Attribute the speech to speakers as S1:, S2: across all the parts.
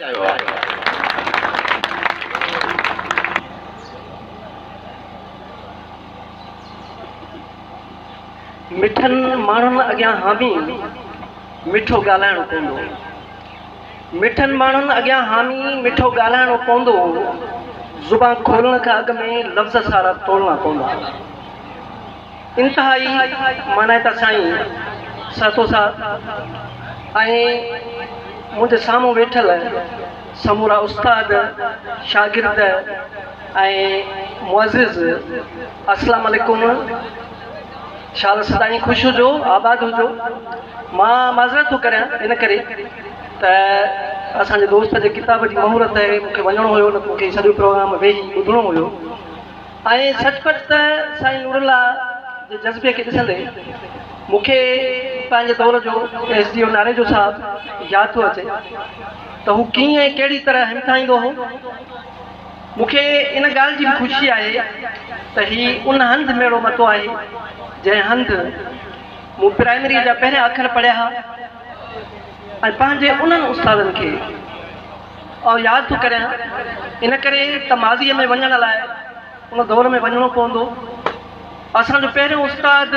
S1: ڪيو آهي. مٺن ماڻهن اڳيان حامي مٺو ڳالهائڻو پوندو هو. مٺن ماڻهن اڳيان حامي مٺو ڳالهائڻو پوندو هو. زبان کولڻ کان اڳ ۾ لفظ سارا تولڻا پوندا هئا. انتهائي معنيٰ ته سائين سهتو صاحب ۽ منهنجي سامهون ويٺل سمورا استاد، شاگرد ۽ معزز اسلام عليڪم شال سدائين خوش هجو آباد هجو مان معذرت ٿو ڪريان ان ڪري ته اسان جي دوست جي ڪتاب جي مهورت هي مون کي وڃڻو هيو نه ته مون کي هي سڄو پروگرام ويهي ٻڌڻو هيو. ائين سچ پچ ته سائين نورالله جي جذبي کي ڏسندي مون کي پنهنجي دور جو ايس ڊي او ناريجو صاحب ياد ٿو اچي ته هو ڪيئن ۽ ڪهڙي طرح همٿائيندو هو. مون کي ان ڳالهه جي به خوشي آهي ته هي ان هنڌ ميڙو متو آهي جنهن هنڌ مون پرائمريء جا پهريان اکر پڙهيا ها ۽ پنهنجي انهن استادن کي آء ياد ٿو ڪريان ان ڪري ته ماضيء ۾ وڃڻ لاء ان دور ۾ وڃڻو پوندو. اسان جو پهريون استاد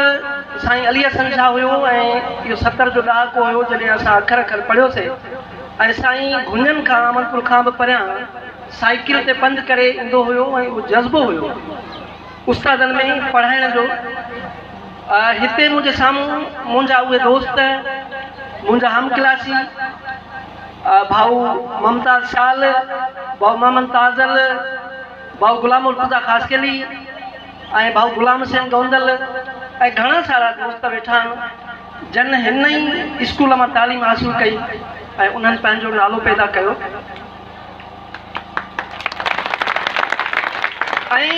S1: سائين علي حسن شاهه هيو ۽ اهو ستر جو ڏهاڪو هيو جڏهن اسان اکر اکر پڙهيو سي ۽ سائين گهنين کان عاملپور کان به پريان سائيڪل تي پنڌ ڪري ايندو هيو ۽ اهو جذبو هيو استادن ۾ پڙهائڻ جو. هتي منهنجي سامهون منهنجا اهي دوست منهنجا همڪلاسي. ڀائو ممتاز شال، ڀائو محمد تازل، ڀائو غلام مرتضيٰ خاصخيلي ۽ ڀائو غلام حسين گوندل ۽ گهڻا سارا دوست ويٺا آهن جن هن ئي اسڪول مان تعليم حاصل ڪئي ۽ انهن پنهنجو نالو پيدا ڪيو ۽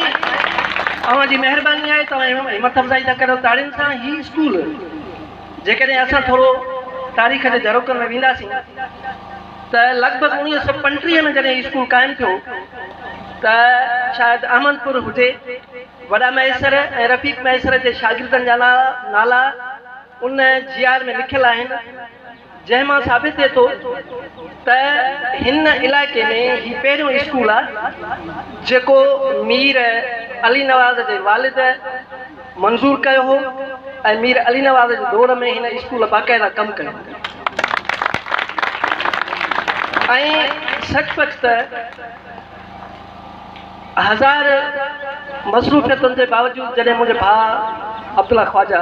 S1: اوهان جي مهرباني آهي توهان همٿ افزائي ٿا ڪريو تاڙين سان هي اسڪول جيڪڏهن اسان ٿورو تاريخ جي جروڪن ۾ وينداسين ته لڳ ڀڳ اوڻيهه سؤ پنٽيهه ۾ جڏهن هي اسڪول قائم ٿيو ته شايد احمد پور هجي، وڏا مهيسر ۽ رفيق مهيسر جي شاگردن جا نالا ان جي آر ۾ لکيل آهن. جنهن مان ثابت ٿئي ٿو ته هن علائقي ۾ هي پهريون اسڪول آهي جيڪو مير علي نواز جي والد منظور ڪيو هو ۽ مير علي نواز جي دور ۾ هن اسڪول باقاعده ڪم ڪيو هو ۽ سچ پچ ته هزار مصروفيتن جي باوجود جڏهن منهنجي ڀاء عبدالله خواجه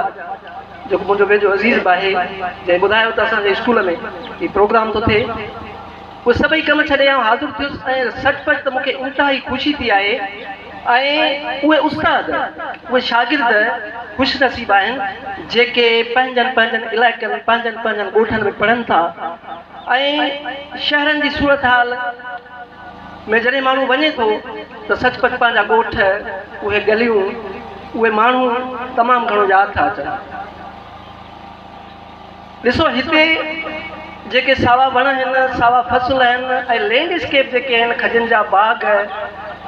S1: جيڪو منهنجو ويجهو عزيز به آهي جنهن ٻڌايو ته اسان جي اسڪول ۾ هي پروگرام ٿو ٿئي اهي سڀئي ڪم ڇڏي آئون حاضر ٿيس ۽ سچ پچ ته مون کي انتهائي خوشي ٿي آهي ۽ اهي استاد اهي شاگرد خوش نصيب آهن جيڪي پنهنجن پنهنجن علائقن پنهنجن پنهنجن ڳوٺن ۾ پڙهن ٿا ۽ شهرن جي صورتحال ۾ جڏهن ماڻهو وڃي ٿو ته سچ پچ پنهنجا ڳوٺ، اهي ڳليون، اهي ماڻهو تمام گهڻو ياد ٿا اچن. ڏسو هتي جيڪي ساوا وڻ آهن، ساوا فصل آهن ۽ لينڊ اسڪيپ جيڪي آهن، کجن جا باغ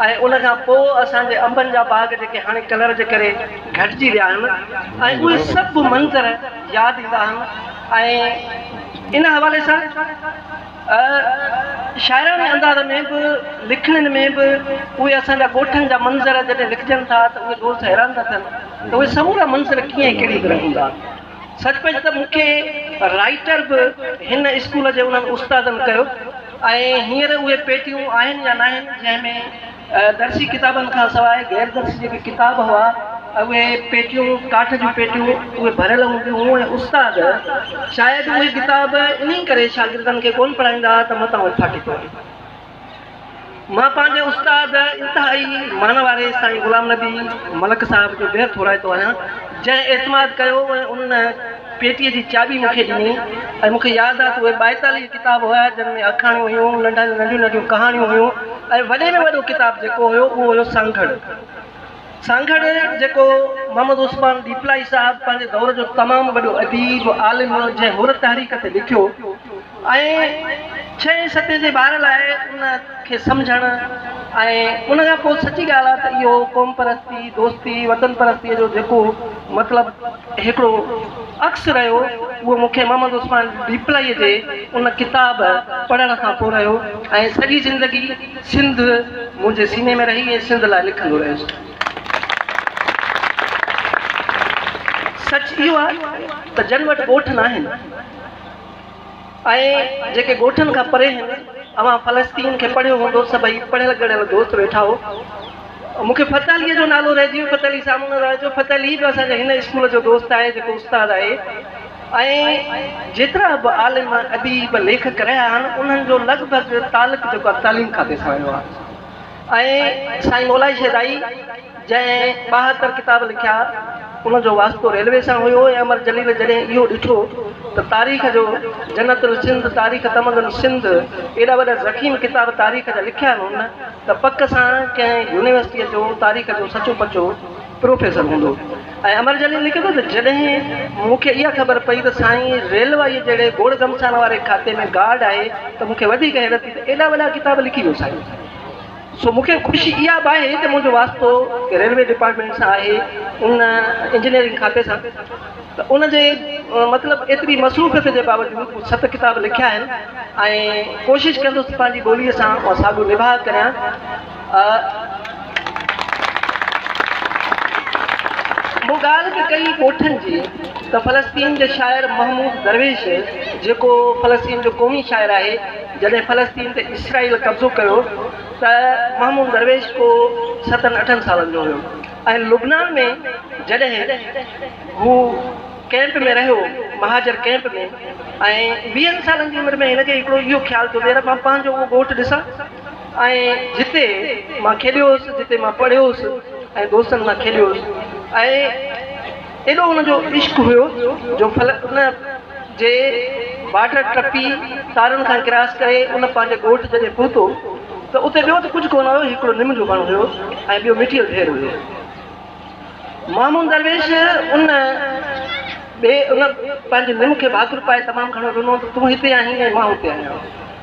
S1: ۽ ان کان پوء اسان جي انبن جا باغ جيڪي هاڻي ڪلر جي ڪري گهٽجي ويا آهن ۽ اهي سڀ منظر ياد ايندا آهن ۽ ان حوالي سان شاعراڻي انداز ۾ به لکڻين ۾ به اهي اسان جا ڳوٺن جا منظر جڏهن لکجن ٿا ته اهي دوست حيران ٿا ٿين ته اهي سمورا منظر ڪيئن ۽ ڪهڙي طرح هوندا. سچ پچ ته مون کي رائيٽر به هن اسڪول جي انهن استادن ڪيو ۽ هينئر اهي پيٽيون آهن يا ناهن جنهن ۾ درسي ڪتابن کان سواء غير درسي جيڪي ڪتاب هئا اهي پيٽيون، ڪاٺ جون پيٽيون، اهي ڀريل هونديون هيون ۽ استاد شايد اهي ڪتاب انهي ڪري شاگردن کي ڪونه پڙهائيندا هئا ته متان اهي ڦاٽي پون. مان پنهنجي استاد انتهائي مان واري سائين غلام نبي ملڪ صاحب جو بيحد ٿورائتو آهيان، جنهن اعتماد ڪيو ۽ ان پيٽيء جي چاٻي مون کي ڏني ۽ مون کي ياد آ ته اهي ٻائيتاليهه ڪتاب هيا جن ۾ آکاڻيون هيون، ننڍن ۾ ننڍيون ننڍيون ڪهاڻيون هيون ۽ وڏي ۾ وڏو ڪتاب جيڪو هيو اهو هيو سانگهڙ. سانگهڙ جيڪو محمد عثمان ڏيپلائي صاحب پنهنجي دور جو تمام وڏو اديب، عالم جنهن حر تحريڪ تي لکيو. ۽ ڇهين صدي جي ٻار لاء ان کي سمجهڻ ۽ ان کان پوء سچي ڳالهه آهي ته اهو قوم پرستي، دوستي، وطن پرستيء جو جيڪو مطلب هڪڙو عڪس رهيو اهو مون کي محمد عثمان ڏيپلائيء جي ان ڪتاب پڙهڻ کان پوء رهيو ۽ سڄي زندگي سنڌ منهنجي سيني ۾ رهي ۽ سنڌ لاء لکندو رهيس. سچ اهو آهي ته جن وٽ ڳوٺ ناهن. ۽ جيڪي ڳوٺن کان پري هن اوهان فلسطين کي پڙهيو هوندو سڀئي پڙهيل ڳڙهيل دوست ويٺا هو مون کي فتح عليء جو نالو رهجي ويو فتح علي سامهون نه رهجو فتح علي به اسان جي هن اسڪول جو دوست آهي جيڪو استاد آهي ۽ جيترا به عالم اديب ليکڪ رهيا آهن انهن جو لڳ ڀڳ تعلق جيڪو آهي تعليم کاتي سان رهيو آهي ۽ سائين مولائي شيدائي جنهن ٻاهتر ڪتاب لکيا ان جو واسطو ريلوي سان هيو ۽ امر جليل جڏهن اهو ڏٺو ته تاريخ جو جنت السنڌ تاريخ تمدن سنڌ ايڏا وڏا ضخيم ڪتاب تاريخ جا لکيا هن ته پڪ سان ڪنهن يونيورسٽيء جو تاريخ جو سچو پچو پروفيسر هوندو ۽ امر جليل لکي ٿو ته جڏهن مون کي اها خبر پئي ته سائين ريلوائيء جهڙي گوڙ گهمسان واري کاتي ۾ گارڊ آهي ته مون کي وڌيڪ حيرت ٿي ته ايڏا وڏا ڪتاب لکي ويو سائين سو مون کي خوشي اها به آهي ته منهنجو واسطو ريلوي ڊپارٽمينٽ سان آهي ان انجنيئرنگ کاتي سان ته ان جي مطلب ايتري مصروفيت جي باوجود مون ست ڪتاب لکيا آهن ۽ ڪوشش ڪندس ته پنهنجي ٻولي سان اها ساڳيو نباهه ڪريان. مون ڳالهه به ڪئي ڳوٺن جي ته فلسطين جي شاعر محمود درويش جيڪو فلسطين جو قومي شاعر آهي، جڏهن فلسطين تي اسرائيل قبضو ڪيو ته محمود درويش ڪو ستن اٺن سالن جو هيو ۽ لبنان ۾ جڏهن هو ڪئمپ ۾ رهيو مهاجر ڪئمپ ۾ ۽ ويهن سالن جي عمر ۾ هن کي هڪڙو اهو خيال ٿيو ته يار مان پنهنجو اهو ڳوٺ ڏسان ۽ جتي مان کيڏيو هوس جتي مان پڙهيو هوس ۽ دوستن سان کيڏيو هوس ۽ ايڏو ان جو عشق هيو جو ڦل ان جي بارڊر ٽپي تارن کان ڪراس ڪري ان پنهنجي ڳوٺ جڏهن پهتو ته اتي ٻيو ته ڪجهه ڪونه هيو هڪڙو نم جو وڻ هيو ۽ ٻيو مٽيء جو ڍير هيو. مامون درويش ان ٻي ان پنهنجي نم کي ڀاڪر پائي تمام گهڻو رنو ته تون هتي آهين ۽ مان هتي آهيان.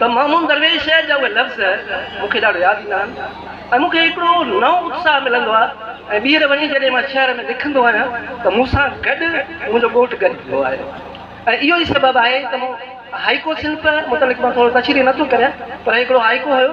S1: ته محمود درويش جا اهي لفظ مون کي ڏاڍو ياد ايندا آهن ۽ مون کي هڪڙو نئون اتساهه ملندو آهي ۽ ٻيهر وڃي جڏهن مان شهر ۾ لکندو آهيان ته مون سان گڏ منهنجو ڳوٺ گڏ ٿيندو آهي ۽ اهو ئي سبب آهي ته مون هائيڪو صنف متعلق مان ٿورو تشريح نه ٿو ڪريان پر هڪڙو هائيڪو هيو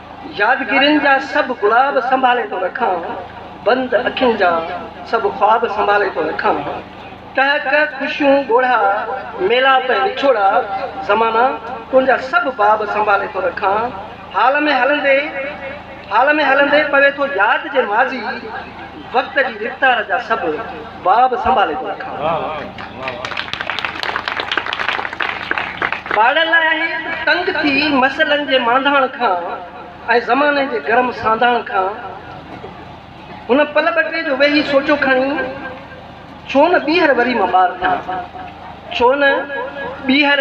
S1: يادگيرين جا سڀ گلاب سنڀالي ٿو رکان، بند اکين جا سڀ خواب سنڀالي ٿو رکان، ٽهڪ، خوشيون، ڳوڙها، ميلاپ ۽ وڇوڙا، زمانا، تنهنجا سڀ باب سنڀالي ٿو رکان، حال ۾ هلندي، حال ۾ هلندي پوي ٿو ياد جي ماضي، وقت جي رفتار جا سڀ. باب سنڀالي ٿو رکان. ٻارڙن لاء آهي ته تنگ ٿي مسئلن جي مانڌاڻ کان ۽ زماني جي گرم سانڌاڻ کان هن پل ٻه ٽي جو ويهي سوچو کڻي ڇو نه ٻيهر وري مان ٻار ٿيان ڇو نه ٻيهر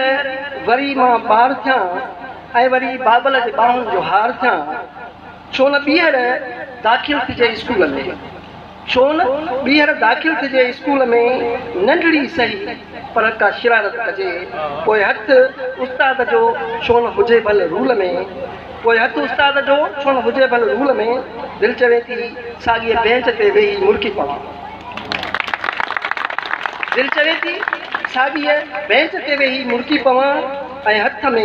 S1: وري مان ٻار ٿيان ۽ وري بابل جي ٻانهن جو هار ٿيان. ڇو نه ٻيهر داخل ٿجي اسڪول ۾. ڇو نه ٻيهر داخل ٿجي اسڪول ۾، ننڍڙي سهي پر ڪا شرارت ڪجي، پوء هٿ استاد جو ڇو نه هجي ڀل رول ۾، پوء هٿ استاد جو ڇو نه هجي ڀل رول ۾، دل چوي ٿي ساڳيء بينچ تي ويهي مرڪي پوان. دل چوي ٿي ساڳيء بئنچ تي ويهي مرڪي پوان ۽ هٿ ۾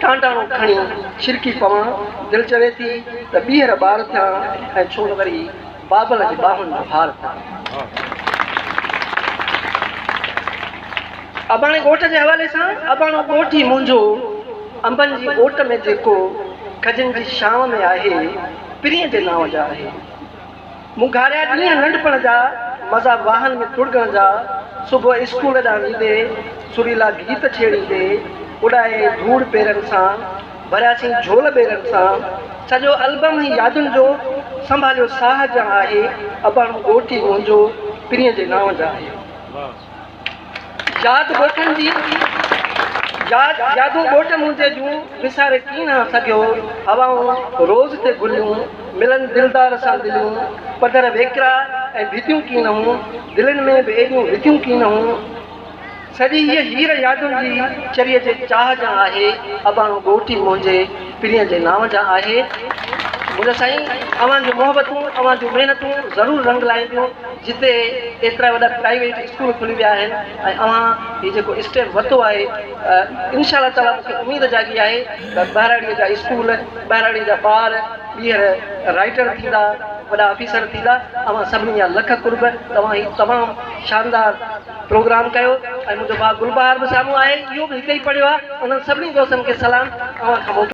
S1: ٽانڊاڻو کڻي ڇرڪي پوان. دل چوي ٿي ته ٻيهر ٻار ٿيان ۽ ڇو نه وري بابل جي ٻانهن جو هار ٿيان. اباڻي ڳوٺ جي حوالي سان، اباڻو ڳوٺ ئي منهنجو انبن جي اوٽ ۾ جيڪو کجن جي ڇانو ۾ آهي، پرينء جي نانء جا آهي. مون گهاريا ڏينهن ننڍپڻ جا، مزا واهن ۾ تڙڳڻ جا، صبح اسڪول ڏانهن ويندي، سريلا گيت ڇيڙيندي، اڏائي ڌوڙ پيرن سان، ڀرياسين جهول ٻيرن سان، سڄو البم هي يادن جو، سنڀاليو ساهه جا آهي، اباڻو ڳوٺ ئي منهنجو، پرينء جي نانء جا آهي. ياد ڳوٺن جي ياد يادون ڳوٺ منهنجي جون وساري ڪين ها سگهيو هوائون روز تي گليون ملن دلدار سان دليون پڌر ويڪرا ۽ ڀتيون ڪين هون دلين ۾ به ايڏيون وٿيون ڪين هون سڄي هيء هير يادن جي چريء جي چاهه جان آهي اباڻو ڳوٺ ئي منهنجي پرينء جي نانء جان آهي منهنجا سائين اوهان جون محبتون اوهان جون محنتون ضرور رنگ لائينديون جتي ايترا وڏا پرائيويٽ اسڪول کلي ويا آهن ۽ اوهان هي جيڪو اسٽيپ ورتو آهي انشاء الله تعاليٰ مون کي اميد جاڳي آهي ته ٻهراڙيء جا اسڪول ٻهراڙيء جا ٻار ٻيهر رائيٽر ٿيندا وڏا آفيسر ٿيندا اوهان سڀني جا لک قرب توهان هي تمام شاندار پروگرام ڪيو ۽ منهنجو ڀاء گلبهار به سامهون آهي اهو به هتي ئي پڙهيو آهي انهن سڀني دوستن کي سلام اوهان کان موڪلي